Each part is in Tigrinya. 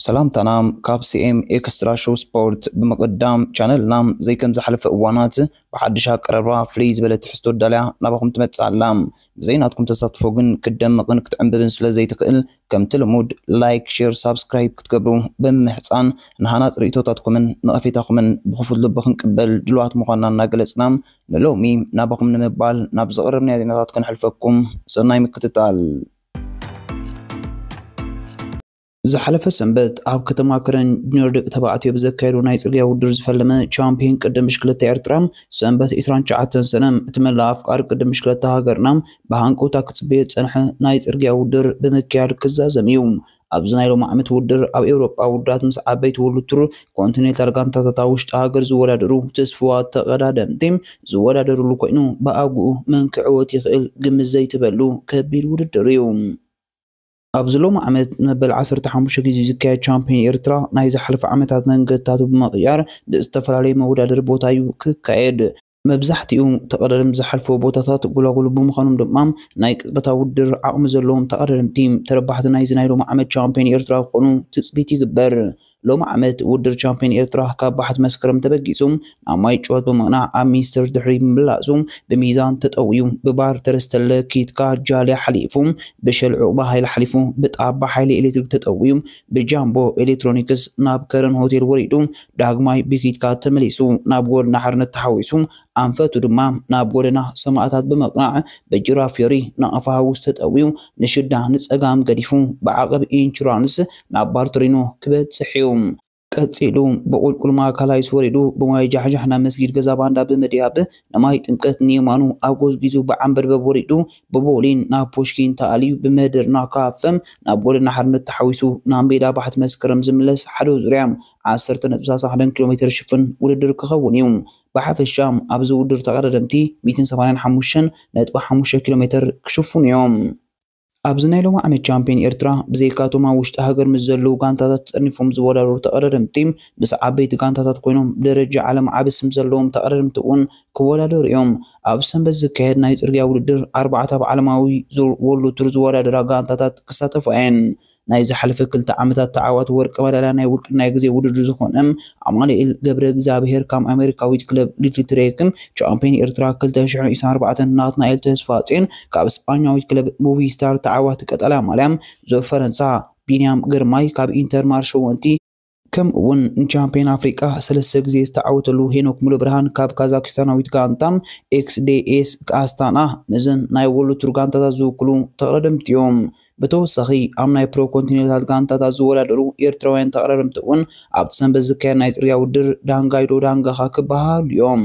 ሰላምታና ካብ ሲኤም ኤክስትራ ሾው ስፖርት ብምቕዳም ቻነልና ዘይከም ዝሓለፈ እዋናት ብሓድሽ ኣቀራርባ ፍልይ ዝበለ ትሕዝቶ ዳልያ ናባኹም ትመጽእ ኣላ። ብዘይናትኩም ተሳትፎ ግን ክትደምቕን ክትዕምብብን ስለ ዘይትኽእል ከምቲ ልሙድ ላይክ፣ ሼር፣ ሳብስክራይብ ክትገብሩ ብምምሕጻን ንሃናጽ ርእይቶታትኩምን ነቐፌታኹምን ብኽፉት ልቢ ክንቅበል ድሉዋት ምዃንና እናገለጽና ንሎሚ ናባኹም ንምባል ናብ ዘቕረብናዮ ዜናታት ክንሕልፈኩም ሰናይ ምክትታል። ዝሓለፈ ሰንበት ኣብ ከተማ ከረን ጁኒየር ደቂ ተባዕትዮ ብዘካየዱ ናይ ጽርግያ ውድድር ዝፈለመ ቻምፒዮን ቅድም ብሽክለታ ኤርትራ ሰንበት 29 ሰነ እቲ መላእ ኣፍቃሪ ቅድም ብሽክለታ ሃገርና ብሃንቀውታ ክጽበዮ ዝጸንሐ ናይ ጽርግያ ውድድር ብምክያድ ክዛዘም እዩ። ኣብዚ ናይ ሎሚ ዓመት ውድድር ኣብ ኤውሮጳ ውድዳት ምስ ዓበይቲ ወርልድ ቱር ኮንቲኔንታል ጋንታታት ኣብ ውሽጢ ሃገር ዝወዳደሩ ትስፉዋት ተቐዳደምቲ ዝወዳደርሉ ኮይኑ ብኣግኡ መን ክዕወት ይኽእል ግምት ዘይትበሉ ከቢድ ውድድር እዩ። ኣብዚ ሎሚ ዓመት ንመበል ዓሰርተ ሓሙሽተ ግዜ ዝካየድ ቻምፕዮን ኤርትራ ናይ ዝሓለፈ ዓመታት መንገድታቱ ብምቕያር ብዝተፈላለየ መወዳደሪ ቦታ እዩ ክካየድ። መብዛሕትኡ ተቐዳደምቲ ዝሓልፍዎ ቦታታት ጎላጉል ብምዃኖም ድማ ናይ ቅጽበታዊ ውድድር ዓቕሚ ዘለዎም ተቐዳደምቲ ተረባሕቲ ናይዚ ናይ ሎሚ ዓመት ቻምፕዮን ኤርትራ ክኾኑ ትጽቢት ይግበር። ሎሚ ዓመት ውድድር ቻምፕዮን ኤርትራ ካብ ባሕቲ መስከረም ተበጊሱ ናብ ማይ ጩወት ብምቕናዕ ኣብ ሚኒስትር ድሕሪ ምምላሱ ብሚዛን ተጠውዩ ብባር ተረስተለ ኪትካ ጃልያ ሓሊፉ ብሸል ዑቕባ ሃይለ ሓሊፉ ብጣባ ሓይሊ ኤሌክትሪክ ተጠውዩ ብጃምቦ ኤሌክትሮኒክስ ናብ ከረን ሆቴል ወሪዱ ዳግማይ ብኪትካ ተመሊሱ ናብ ጎደና ሓርነት ተሓዊሱ ኣንፈቱ ድማ ናብ ጎደና ሰማእታት ብምቕናዕ ብጅራ ፍዮሪ ናቕፋ ሃውስ ተጠውዩ ንሽዳ ንጸጋም ገዲፉ ብዓቐብ ኢንሹራንስ ናብ ባርቶሪኖ ክበጽሕ እዩ። ቀጺሉ ብቑልቁል ማካላይስ ወሪዱ ብማይ ጃሕጃሕ ናብ መስጊድ ገዛ ባንዳ ብምድያብ ንማይ ጥምቀት ንየማኑ ኣጎዝጒዙ ብዓምበርበብ ወሪዱ ብቦሊን ናብ ፑሽኪን ተኣልዩ ብመደርና ካፈም ናብ ጎደና ሓርነት ተሓዊሱ ናብ ሜዳ ባሕቲ መስከረም ዝምለስ ሓደ ዙርያ ዓሰርተ ነጥቢ ሳሳሓደን ኪሎሜተር ዝሽፍን ውድድር ክኸውን እዩ። ብሓፈሻ ኣብዚ ውድድር ተቐዳደምቲ ሚእትን ሰማንያን ሓሙሽተን ነጥቢ ሓሙሽተ ኪሎ ሜተር ክሽፍኑ እዮም። ኣብዚ ናይ ሎሚ ዓመት ቻምፕዮን ኤርትራ ብዘይካ እቶም ኣብ ውሽጢ ሃገር ምስ ዘለዉ ጋንታታት ተጠርኒፎም ዝወዳደሩ ተቐዳደምቲ ምስ ዓበይቲ ጋንታታት ኮይኖም ብደረጃ ዓለም ዓቢ ስም ዘለዎም ተቐዳደምቲ እውን ክወዳደሩ እዮም። ኣብ ሰንበት ዝካየድ ናይ ጽርግያ ውድድር ኣርባዕተ ኣብ ዓለማዊ ዙር ዎርልድ ቱር ዝወዳደራ ጋንታታት ክሳተፋ እየን። ናይ ዝሓለፈ ክልተ ዓመታት ተዓዋቲ ወርቂ መዳልያ ናይ ውልቅን ናይ ግዜ ውድድር ዝኾነ ኣማኑኤል ገብረእግዚኣብሄር ካብ ኣሜሪካዊት ክለብ ሊትልትሬክን ቻምፕዮን ኤርትራ ክልተ ሽሕን ዒስራን ኣርባዕተን ናትናኤል ተስፋጽዮን ካብ ስጳኛዊት ክለብ ሙቪስታር ተዓዋቲ ቀጠልያ ማልያ ዙር ፈረንሳ ቢንያም ግርማይ ካብ ኢንተር ማር ሸወንቲ ከምኡ እውን ንቻምፒዮን ኣፍሪቃ ሰለስተ ግዜ ዝተዓወተሉ ሄኖክ ሙሉብርሃን ካብ ካዛኪስታናዊት ጋንታ ኤክስዴኤስ ኣስታና ነዘን ናይ ወሉ ቱር ጋንታታት ዝውክሉ ተቕረደምቲ እዮም። ብተወሳኺ ኣብ ናይ ፕሮ ኮንቲኔንታል ጋንታታት ዝወዳደሩ ኤርትራውያን ተቕረደምቲ እውን ኣብቲ ሰንበት ዝካየድ ናይ ጽርግያ ውድድር ዳንጋይዶ ዳንጋኻ ክበሃሃሉ እዮም።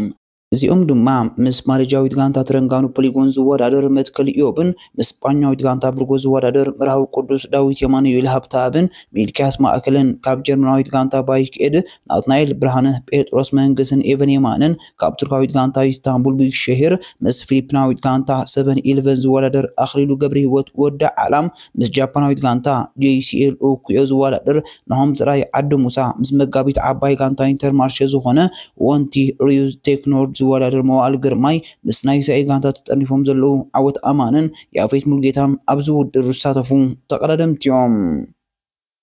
እዚኦም ድማ ምስ ማሌዥያዊት ጋንታ ትረንጋኑ ፖሊጎን ዝወዳደር መትከል ኢዮብን ምስ ስጳኛዊት ጋንታ ብርጎ ዝወዳደር መርሃዊ ቅዱስ ዳዊት የማኑኤል ሃብተኣብን ሚልክያስ ማእከልን ካብ ጀርመናዊት ጋንታ ባይክ ኤድ ናትናኤል ብርሃነ ጴጥሮስ መንግስን ኤቨን የማነን ካብ ቱርካዊት ጋንታ ኢስታንቡል ቢግሸሄር ምስ ፊሊፒናዊት ጋንታ ሰቨን ኢልቨን ዝወዳደር ኣኽሊሉ ገብረህይወት ወዲ ዓላም ምስ ጃፓናዊት ጋንታ ጄሲኤል ኦኩዮ ዝወዳደር ናሆም ጽራይ ዓዲ ሙሳ፣ ምስ መጋቢት ዓባይ ጋንታ ኢንተርማርሸ ዝኾነ ወንቲ ሪዩዝ ቴክኖርድ ዝወዳደር መዋእል ግርማይ፣ ምስ ናይ ሰኤ ጋንታ ተጠርኒፎም ዘለዉ ዓወት ኣማንን ያፌት ሙልጌታን ኣብዚ ውድድር ዝሳተፉ ተቐዳደምቲ'ዮም።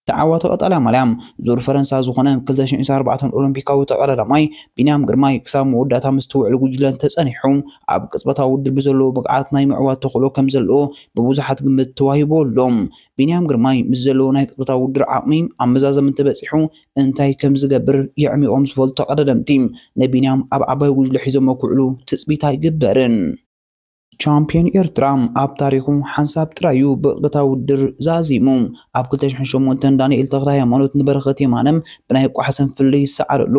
ተዓዋቲ ቀጠልያ ማልያ ዙር ፈረንሳ ዝኾነ ክልተ ሽሕን ኣርባዕተን ኦሎምፒካዊ ተቐዳዳማይ ቢንያም ግርማይ ክሳብ መወዳእታ ምስቲ ውዕል ጉጅለ እንተጸኒሑ ኣብ ቅጽበታዊ ውድድር ብዘለዎ ብቕዓት ናይ ምዕዋት ተኽእሎ ከምዘለዎ ብብዙሓት ግምት ተዋሂብዎ ኣሎ። ቢንያም ግርማይ ምስ ዘለዎ ናይ ቅጽበታዊ ውድድር ዓቕሚ ኣብ መዛዘሚ እንተበጺሑ እንታይ ከምዝገብር የዕሚቖም ዝፈልጡ ተቐዳደምቲ ንቢንያም ኣብ ዓባይ ጉጅለ ሒዞሞ ክውዕሉ ትጽቢት ኣይግበርን። ቻምፕዮን ኤርትራ ኣብ ታሪኹ ሓንሳብ ጥራዩ ብቕታ ውድድር ዛዚሙ። ኣብ 2008 ዳንኤል ተኽለሃይማኖት ንበረኸት የማነ ብናይ ቋሕ ሰንፍል ይሰዓረሉ።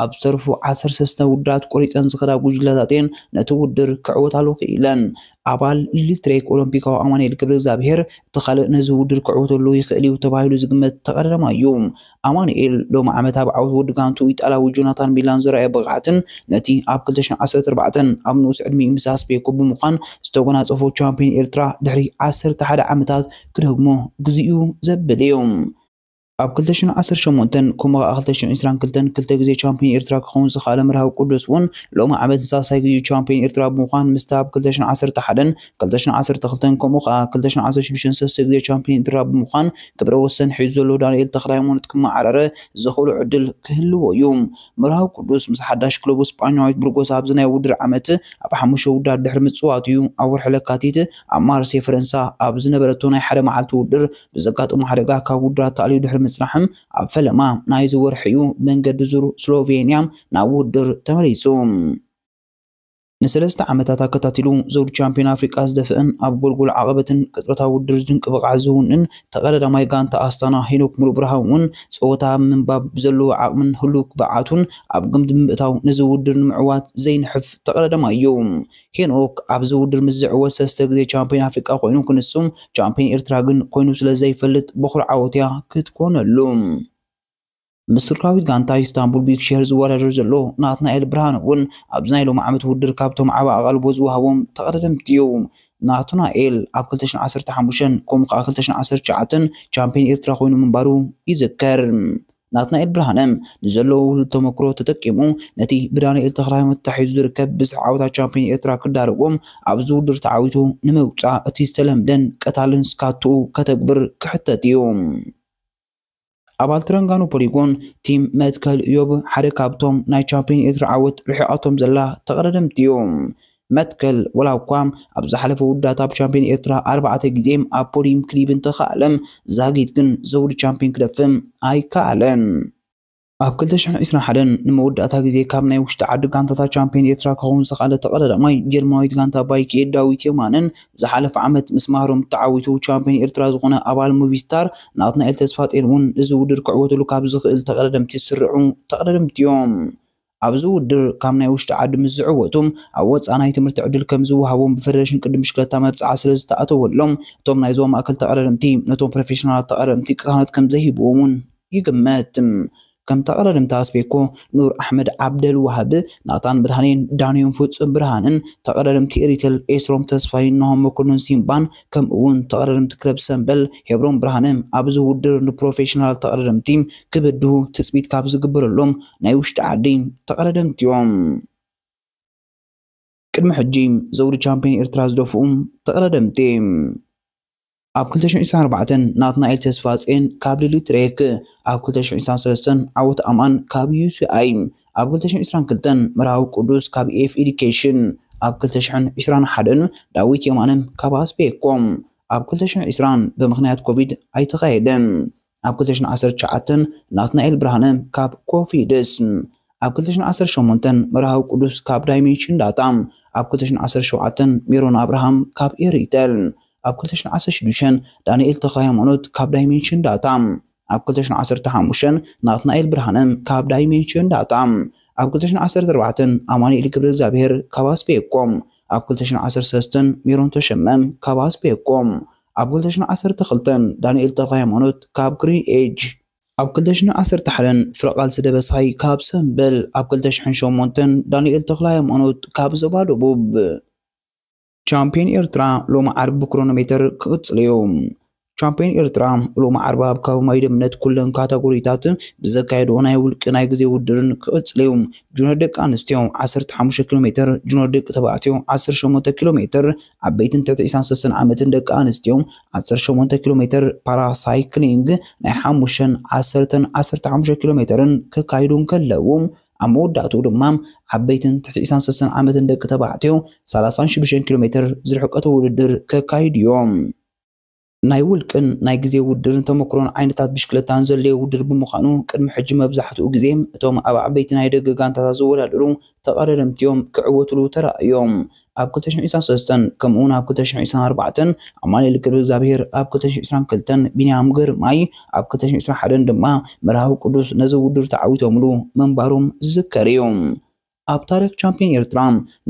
ኣብ ዝተርፉ ዓሰርተ ሰለስተ ውድድራት ቆሪጸን ዝኸዳ ጉጅለታት'የን ነቲ ውድድር ክዕወታሉ ክኢለን። ኣባል ኢሊትሪክ ኦሎምፒካዊ ኣማኒኤል ገብረእግዚኣብሄር እቲ ካልእ ነዚ ውድድር ክዕወተሉ ይኽእል'ዩ ተባሂሉ ዝግመት ተቐዳዳማይ'ዩ። ኣማኑኤል ሎሚ ዓመት ኣብ ዓወት ወዲ ጋንትኡ ኢጣልያዊ ጆናታን ሚላን ዘርኣዮ ብቕዓትን ነቲ ኣብ ክልተ ሽሕን ዓሰርተ ኣርባዕተን ኣብ ንኡስ ዕድሚኡ ምስ ኣስቤኮ ብምዃን ዝተጎናጸፎ ቻምፕዮን ኤርትራ ድሕሪ ዓሰርተ ሓደ ዓመታት ክደግሞ ግዜኡ ዘብል እዩ። ኣብ ክልተ ሽሕን ዓሰርተ ሸሞንተን ከምኡ ከኣ ክልተ ሽሕን ዕስራን ክልተን ክልተ ግዜ ቻምፕዮን ኤርትራ ክኸውን ዝኸኣለ መርሃዊ ቅዱስ እውን ሎሚ ዓመት ንሳልሳይ ግዜኡ ቻምፕዮን ኤርትራ ብምዃን ምስታ ኣብ ክልተ ሽሕን ዓሰርተ ሓደን ክልተ ሽሕን ዓሰርተ ክልተን ከምኡ ከኣ ክልተ ሽሕን ዓሰርተ ሽዱሽተን ሰለስተ ግዜ ቻምፕዮን ኤርትራ ብምዃን ክብረ ወሰን ሒዙ ዘሎ ዳንኤል ተኽለሃይማኖት ክመዓራረ ዘኽእሎ ዕድል ክህልዎ እዩ። መርሃዊ ቅዱስ ምስ ሓዳሽ ክለቡ ስጳኛዊት ብርጎስ ኣብዚ ናይ ውድድር ዓመት ኣብ ሓሙሽተ ውድድራት ድሕሪ ምጽዋቱ እዩ ኣብ ወርሒ ለካቲት ኣብ ማርሴይ ፈረንሳ ኣብ ዝነበረቶ ናይ ሓደ መዓልቲ ውድድር ብዘጋጠሞ ሓደጋ ካብ ውድድራት ተኣልዩ ድሕሪ ምጽናሕ ኣብ ፈለማ ናይዚ ወርሒ እዩ ብመንገዲ ዙር ስሎቬንያ ናብ ውድድር ተመሊሱ። ንሰለስተ ዓመታት ኣከታቲሉ ዘውዲ ቻምፕዮን ኣፍሪቃ ዝደፍእን ኣብ ጎልጎል ዓቐበትን ቅጽበታዊ ውድድር ድንቂ ብቕዓት ዘውንን ተቐዳዳማይ ጋንታ ኣስታና ሄኖክ ሙሉብርሃን እውን ጸወታ ምንባብ ብዘለዎ ዓቕምን ህሉው ብቕዓቱን ኣብ ግምት ብምእታው ነዚ ውድድር ንምዕዋት ዘይንሕፍ ተቐዳዳማይ እዩ። ሄኖክ ኣብዚ ውድድር ምስ ዝዕወት ሰለስተ ግዜ ቻምፕዮን ኣፍሪቃ ኮይኑ ክንሱ፣ ቻምፕዮን ኤርትራ ግን ኮይኑ ስለዘይፈልጥ በዅሪ ዓወት'ያ ክትኮነሉ። ምስ ቱርካዊት ጋንታ ኢስታንቡል ቢክሸር ዝወዳደር ዘሎ ናትናኤል ብርሃነ እውን ኣብዚ ናይ ሎሚ ዓመት ውድድር ካብቶም ዓቢ ኣቓልቦ ዝወሃቦም ተቐዳደምቲ እዩ። ናትናኤል ኣብ ክልተ ሽሕን ዓሰርተ ሓሙሽተን ከምኡ ከኣ ክልተ ሽሕን ዓሰርተ ትሽዓተን ቻምፕዮን ኤርትራ ኮይኑ ምንባሩ ይዝከር። ናትናኤል ብርሃነ ንዘለዎ ውህሉል ተመክሮ ተጠቂሙ ነቲ ብዳንኤል ተኽለሃይማኖት ተታሒዙ ዝርከብ ብዝሒ ዓወታት ቻምፕዮን ኤርትራ ክዳርጎ ኣብዚ ውድድር ተዓዊቱ ንምውጻእ እቲ ዝተለምደን ቀታልን ስካቱኡ ከተግብር ክሕተት እዩ። ኣባል ትረንጋኑ ፖሊጎን ቲም መትከል እዮብ ሓደ ካብቶም ናይ ቻምፒዮን ኤርትራ ዓወት ርሒቓቶም ዘላ ተቐዳደምቲ እዩ። መትከል ወላ እኳ ኣብ ዝሓለፈ ውዳት ኣብ ቻምፒዮን ኤርትራ ኣርባዕተ ግዜ ኣብ ፖዲዩም ክሊብ እንተኸኣለ ዛጊት ግን ዘውዲ ቻምፒዮን ክደፍእ ኣይከኣለን። ኣብ ክልተ ሽሕን ዒስራን ሓደን ንመወዳእታ ግዜ ካብ ናይ ውሽጢ ዓዲ ጋንታታት ቻምፒዮን ኤርትራ ክኸውን ዝኸኣለ ተቐዳዳማይ ጀርመናዊት ጋንታ ባይክ እየ ዳዊት የማነን ዝሓለፈ ዓመት ምስ ማህረም ተዓዊቱ ቻምፕዮን ኤርትራ ዝኾነ ኣባል ሙቪ ስታር ናትናኤል ተስፋጼን እውን እዚ ውድድር ክዕወተሉ ካብ ዝኽእል ተቐዳደምቲ ዝስርዑ ተቐዳደምቲ እዮም። ኣብዚ ውድድር ካብ ናይ ውሽጢ ዓዲ ምስ ዝዕወቱ ኣብ ወፃኢ ናይ ትምህርቲ ዕድል ከም ዝወሃቦም ብፌደሬሽን ቅድድም ብሽክለታ መብፅዓ ስለ ዝተኣተወሎም እቶም ናይ ዞባ ማእከል ተቐዳደምቲ ነቶም ፕሮፌሽናላት ተቐዳደምቲ ቅሳነት ከም ዘይህብዎም እውን ይግመት። ከምቲ ኣቐዳድምታ ስፔኮ ኑር ኣሕመድ ዓብደል ዋሃብ፣ ናታን ብርሃኔን፣ ዳንኤም ፍጹም ብርሃንን፣ ተቐዳደምቲ ኤሪተል ኤስሮም ተስፋይን፣ ናሆም መኮንን ሲምባን፣ ከምኡ'ውን ተቐዳደምቲ ክለብ ሰምበል ሄብሮም ብርሃነ፣ ኣብዚ ውድድር ንፕሮፌሽናል ተቐዳደምቲ ክብድሁ ትጽቢት ካብ ዝግበረሎም ናይ ውሽጢ ዓዲ ተቐዳደምቲ'ዮም። ቅድሚ ሕጂ ዘውዲ ቻምፕዮን ኤርትራ ዝደፍኡ ተቐዳደምቲ። ኣብ ክልተ ሽሕን ዒስራን ኣርባዕተን ናትናኤል ተስፋጼን ካብ ሊሊ ትሬክ፣ ኣብ ክልተ ሽሕን ዒስራን ሰለስተን ዓወት ኣማን ካብ ዩሲኣይ፣ ኣብ ክልተ ሽሕን ዒስራን ክልተን መርሃዊ ቅዱስ ካብ ኢኤፍ ኤዱኬሽን፣ ኣብ ክልተ ሽሕን ዒስራን ሓደን ዳዊት የማነ ካብ ኣስቤኮ፣ ኣብ ክልተ ሽሕን ዒስራን ብምኽንያት ኮቪድ ኣይተኻየደን። ኣብ ክልተ ሽሕን ዓሰርተ ትሽዓተን ናትናኤል ብርሃነ ካብ ኮፊድስ፣ ኣብ ክልተ ሽሕን ዓሰርተ ሸሞንተን መርሃዊ ቅዱስ ካብ ዳይሜንሽን ዳታ፣ ኣብ ክልተ ሽሕን ዓሰርተ ሸውዓተን ሜሮን ኣብርሃም ካብ ኤሪተል፣ ኣብ ክልተ ሽሕን ዓሰርተ ሽዱሽተን ዳንኤል ተክለሃይማኖት ካብ ዳይሜንሽን ዳታ፣ ኣብ ክልተ ሽሕን ዓሰርተ ሓሙሽተን ናትናኤል ብርሃነ ካብ ዳይሜንሽን ዳታ፣ ኣብ ክልተ ሽሕን ዓሰርተ ኣርባዕተን ኣማኑኤል ገብረእግዚኣብሄር ካብ ኣስፔኮም፣ ኣብ ክልተ ሽሕን ዓሰርተ ሰለስተን ሜሮን ተሸመ ካብ ኣስፔኮም፣ ኣብ ክልተ ሽሕን ዓሰርተ ክልተን፣ ዳንኤል ተኽለሃይማኖት ካብ ግሪን ኤጅ፣ ኣብ ክልተ ሽሕን ዓሰርተ ሓደን፣ ፍረቃልሲ ደበሳይ ካብ ሰምበል፣ ኣብ ክልተ ሽሕን ሸሞንተን፣ ዳንኤል ተኽለሃይማኖት ካብ ዞባ ደቡብ። ቻምፕዮን ኤርትራ ሎሚ ዓርቢ ብክሮኖሜተር ክቕጽል'ዩ። ቻምፕዮን ኤርትራ ሎሚ ዓርቢ ኣብ ከባቢ ማይደምነት ኩለን ካታጎሪታት ብዘካየድኦ ናይ ውልቂ ናይ ግዜ ውድድርን ክቕጽል'ዩ። ጁንዮር ደቂ ኣንስትዮ ዓሰርተ ሓሙሽተ ኪሎሜተር፣ ጁንዮር ደቂ ተባዕትዮ ዓሰርተ ሸሞንተ ኪሎሜተር፣ ዓበይትን ትሕቲ ዒስራን ሰለስተን ዓመትን ደቂ ኣንስትዮ ዓሰርተ ሸሞንተ ኪሎ ሜተር ፓራ ሳይክሊንግ ናይ ሓሙሽተን ዓሰርተን ዓሰርተ ሓሙሽተ ኪሎ ሜተርን ከካይዱ እንከለዉ ኣብ መወዳእትኡ ድማ ዓበይትን ትሕቲ ዒስራን ሰለስተን ዓመትን ደቂ ተባዕትዮ ሰላሳን ሽዱሽተን ኪሎ ሜተር ዝርሕቀት ውድድር ከካይዱ እዮም። ናይ ውልቅን ናይ ግዜ ውድድርን ተመክሮን ዓይነታት ብሽክለታን ዘድለዮ ውድድር ብምዃኑ፣ ቅድሚ ሕጂ መብዛሕትኡ ግዜ እቶም ኣብ ዓበይቲ ናይ ደገ ጋንታታት ዝወዳደሩ ተቐዳደምቲ'ዮም ክዕወቱሉ ተራእዮም። ኣብ ክልተ ሽሕን ዒስራን ሰለስተን ከምኡ'ውን ኣብ ክልተ ሽሕን ዒስራን ኣርባዕተን ኣማኑኤል ገብረእግዚኣብሄር፣ ኣብ ክልተ ሽሕን ዒስራን ክልተን ቢንያም ግርማይ፣ ኣብ ክልተ ሽሕን ዒስራን ሓደን ድማ መርሃዊ ቅዱስ ነዚ ውድድር ተዓዊቶምሉ ምንባሮም ዝዝከር'ዩ። ኣብ ታሪኽ ቻምፕዮን ኤርትራ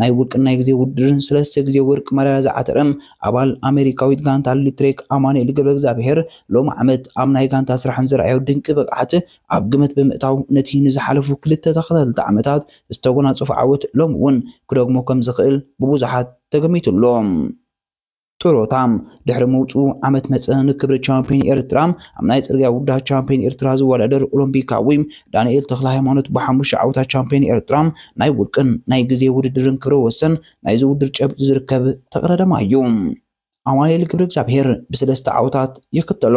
ናይ ውልቅን ናይ ግዜ ውድድርን ሰለስተ ግዜ ወርቂ ማዳልያ ዝዓተረ ኣባል ኣመሪካዊት ጋንታ ኣድልዩ ትሬክ ኣማኑኤል ገብረእግዚኣብሄር ሎሚ ዓመት ኣብ ናይ ጋንታ ስራሕን ዘርኣዮ ድንቂ ብቕዓት ኣብ ግምት ብምእታው ነቲ ንዝሓለፉ ክልተ ተኸታተልቲ ዓመታት ዝተጎናጸፎ ዓወት ሎሚ እውን ክደግሞ ከምዝኽእል ብብዙሓት ተገሚቱ ኣሎ። ጥሮታ ድሕሪ ምውፅኡ ዓመት መፀ ንክብሪ ቻምፒዮን ኤርትራ ኣብ ናይ ፅርግያ ውድድራት ቻምፒዮን ኤርትራ ዝወዳደር ኦሎምፒካዊ ዳንኤል ተክለ ሃይማኖት ብሓሙሽተ ዓውታት ቻምፒዮን ኤርትራ ናይ ውልቅን ናይ ግዜ ውድድርን ክብረ ወሰን ናይዚ ውድድር ጨብጢ ዝርከብ ተቕዳዳማ እዩ። ኣማኑኤል ገብረ እግዚኣብሄር ብሰለስተ ዓውታት ይክተሎ።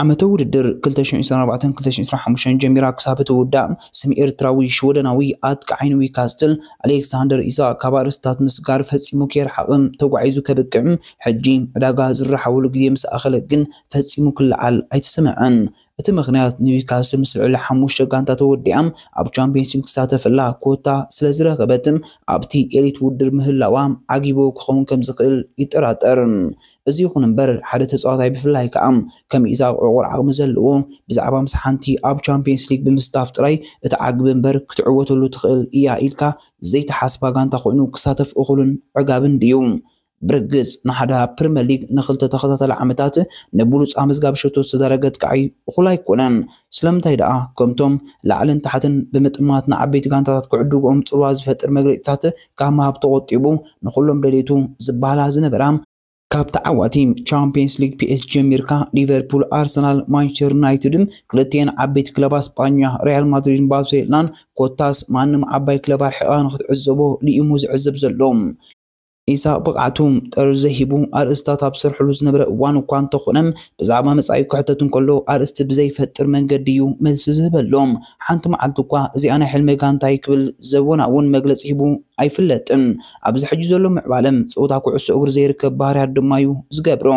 ዓመተ ውድድር ክልተ ሽሕን ዒስራን ኣርባዕተን ክልተ ሽሕን ዒስራን ሓሙሽተን ጀሚራ ክሳብ እትውዳእ ስም ኤርትራዊ ሽወደናዊ ኣጥቃዓይ ኒዊካስትል ኣሌክሳንደር ኢሳክ ካብ ኣርእስትታት ምስጋር ፈጺሙ ከይረሓቐ ተጓዒዙ ከብቅዕ ሕጂ ዕዳጋ ዝራሓወሉ ግዜ ምስ ኣኸለ ግን ፈጺሙ ክለዓል ኣይተሰምዐን። እቲ ምኽንያት ኒዊካስትል ምስ ልዕሊ ሓሙሽተ ጋንታ ተወዲኣ ኣብ ቻምፕየንስ ሊግ ትሳተፈላ ኮታ ስለዝረኸበት ኣብቲ ኤሊት ውድድር ምህላዋ ዓጊብዎ ክኸውን ከምዝኽእል ይጠራጠር። እዚ ይኹን እምበር ሓደ ተጻዋታይ ብፍላይ ከኣ ከም ኢዛቕ ዕቑር ዓቕሚ ዘለዎ ብዛዕባ ምስ ሓንቲ ኣብ ቻምፕየንስ ሊግ ብምስታፍ ጥራይ እትዓግብ እምበር ክትዕወተሉ ትኽእል ኢያ ኢልካ ዘይትሓስባ ጋንታ ኮይኑ ክሳተፍ እኹልን ዕጋብን ድዩ? ብርግጽ ናህዳ ኣብ ፕሪመር ሊግ ንኽልተ ተኸታታሊ ዓመታት ንብሉጽ ኣመዝጋቢ ሸቶ ዝተዳረገ ኣጥቃዒ እኹል ኣይኮነን። ስለምንታይ ደኣ ከምቶም ላዕልን ታሕትን ብምጥማት ንዓበይቲ ጋንታታት ክዕድግኦም ጽልዋ ዝፈጥር መግለጺታት ካብ ምሃብ ተቖጢቡ ንኹሎም ደልየቱ ዝበሃላ ዝነበራ፣ ካብ ተዓዋቲ ቻምፕየንስ ሊግ ፒኤስጂ ጀሚርካ ሊቨርፑል፣ ኣርሰናል፣ ማንቸስተር ዩናይትድን ክልቲኤን ዓበይቲ ክለባት ስጳኛ ሪያል ማድሪድን ባርሴሎናን ኮታስ ማንም ዓባይ ክለብ ኣርሒቕኻ ንኽትዕዘቦ ልኢሙ ዝዕዘብ ዘሎ ኢሳቕ ብቕዓቱ ጠርዙ ዘይሂቡ ኣርእስታት ኣብ ዝሰርሐሉ ዝነበረ እዋን እኳ እንተኾነ ብዛዕባ መጻኢ ክሕተት እንከሎ ኣርእስቲ ብዘይፈጥር መንገዲ እዩ መልሲ ዝህበሎም። ሓንቲ መዓልቲ እኳ እዚኣ ናይ ሕልመይ ጋንታይ ክብል ዘወናውን መግለጺ ሂቡ ኣይፍለጥን። ኣብዚ ሕጂ ዘሎ ምዕባለ ጸወታ ኩዕሶ እግሪ ዘይርከብ ባህርያት ድማ'ዩ ዝገብሮ።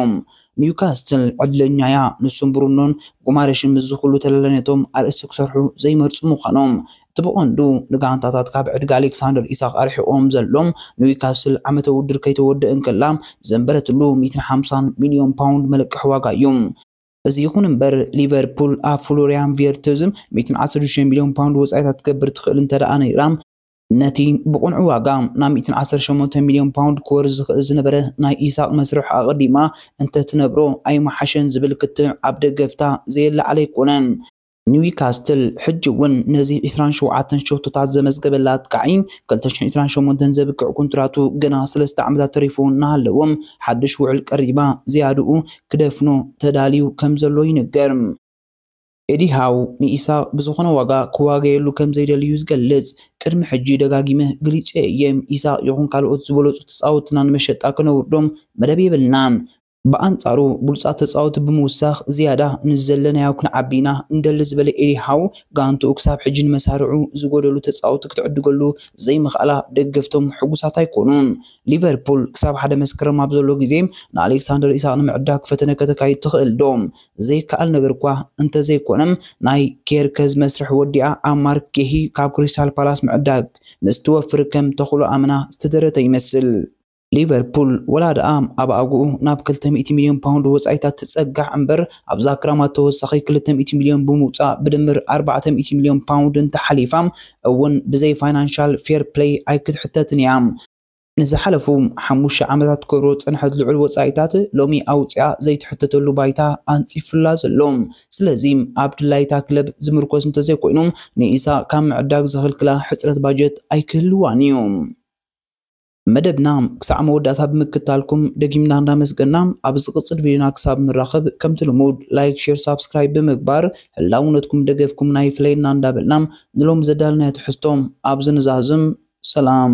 ኒውካስትል ዕድለኛ'ያ፣ ንሱን ብሩኖን ጉማሬሽን ምስዚ ኩሉ ተላላይነቶም ኣርእስቲ ክሰርሑ ዘይመርጹ ምዃኖም። እቲ ብቐንዱ ንጋንታታት ካብ ዕድጊ ኣሌክሳንደር ኢሳቕ ኣርሒቑዎም ዘሎ፣ ኒውካስትል ዓመተ ውድድር ከይተወድእ እንከላ ዘንበረትሉ ሚእትን ሓምሳን ሚልዮን ፓውንድ መለቀሒ ዋጋ'ዩ። እዚ ይኹን እምበር ሊቨርፑል ኣብ ፍሎሪያን ቪርትዝም 116 ሚልዮን ፓውንድ ወጻኢታት ክትገብር ትኽእል እንተደኣ ነይራ፣ ነቲ ብቕኑዕ ዋጋ ናብ 118 ሚልዮን ፓውንድ ክወርድ ዝኽእል ዝነበረ ናይ ኢሳቕ መስርሕ ኣቐዲማ እንተትነብሮ ኣይምሓሸን ዝብል ክትዕ ኣብ ደገፍታ ዘየለዓለ ኣይኮነን። ኒውካስትል ሕጂ'ውን ነዚ ዕስራን ሸውዓተን ሸቶታት ዘመዝገበላ ኣጥቃዒ ኣብ ክልተ ሽሕን ዕስራን ሸሞንተን ዘብቅዕ ኮንትራቱ ገና ሰለስተ ዓመታት ተሪፍዎ እናሃለወ ሓድሽ ውዕል ቀሪባ ዝያድኡ ክደፍኖ ተዳልዩ ከምዘሎ ይንገር። ኤዲ ሃው ንኢሳቕ ብዝኾነ ዋጋ ክዋገየሉ ከምዘይደሊ'ዩ ዝገልጽ። ቅድሚ ሕጂ ደጋጊመ ገሊጸዮ እየ፣ ኢሳቕ ይኹን ካልኦት ዝበለጹ ተጻወትትና ንመሸጣ ከነውርዶም መደብ የብልናን። ብኣንጻሩ ብሉጻት ተጻወቲ ብምውሳኽ ዝያዳ ንዝዘለናዮ ክንዓቢ ኢና እንደሊ ዝበለ ኤዲ ሃው፣ ጋንትኡ ክሳብ ሕጂ ንመሳርዑ ዝጎደሉ ተጻወቲ ክትዕድገሉ ዘይምኽኣላ ደገፍቶም ሕጉሳት ኣይኮኑን። ሊቨርፑል ክሳብ ሓደ መስከረም ኣብ ዘሎ ግዜ ንኣሌክሳንደር ኢሳቕ ንምዕዳግ ፈተነ ከተካይድ ትኽእል'ዶ? ዘይከኣል ነገር'ኳ እንተዘይኮነ ናይ ኬርከዝ መስርሕ ወዲኣ ኣብ ማርክ ጌሂ ካብ ክሪስታል ፓላስ ምዕዳግ ምስ ትወፍር ከም ተኽሎ ኣመና ዝተደረተ ይመስል። ሊቨርፑል ወላ ደኣ ኣብ ኣግኡ ናብ ክልተ ሚእቲ ሚልዮን ፓውንድ ወጻኢታት ትጸጋዕ እምበር፣ ኣብዛ ክራማት ተወሳኺ ክልተ ሚእቲ ሚልዮን ብምውጻእ ብድምር ኣርባዕተ ሚእቲ ሚልዮን ፓውንድ እንተሓሊፋ እውን ብዘይ ፋይናንሻል ፌር ፕለይ ኣይክትሕተትን እያ። ንዝሓለፉ ሓሙሽተ ዓመታት ክትገብሮ ዝጸንሐት ልዑል ወጻኢታት ሎሚ ኣውጺኣ ዘይትሕተተሉ ባይታ ኣንጺፉላ ዘሎ። ስለዚ ኣብ ድላይ እታ ክለብ ዝምርኮስ እንተዘይኮይኑ ንኢሳ ካብ ምዕዳግ ዝኽልክላ ሕጽረት ባጀት ኣይክህልዋን እዩ። መደብና ክሳዕ መወዳእታ ብምክታልኩም ደጊምና እንዳመስገና ኣብ ዝቕጽል ቪድዮና ክሳብ ንራኸብ ከምቲ ልሙድ ላይክ ሼር ሳብስክራይብ ብምግባር ህላውነትኩም ደገፍኩምና ይፍለየና እንዳበልና ንሎሚ ዘዳለናዮ ትሕዝቶ ኣብዚ ንዛዝም ሰላም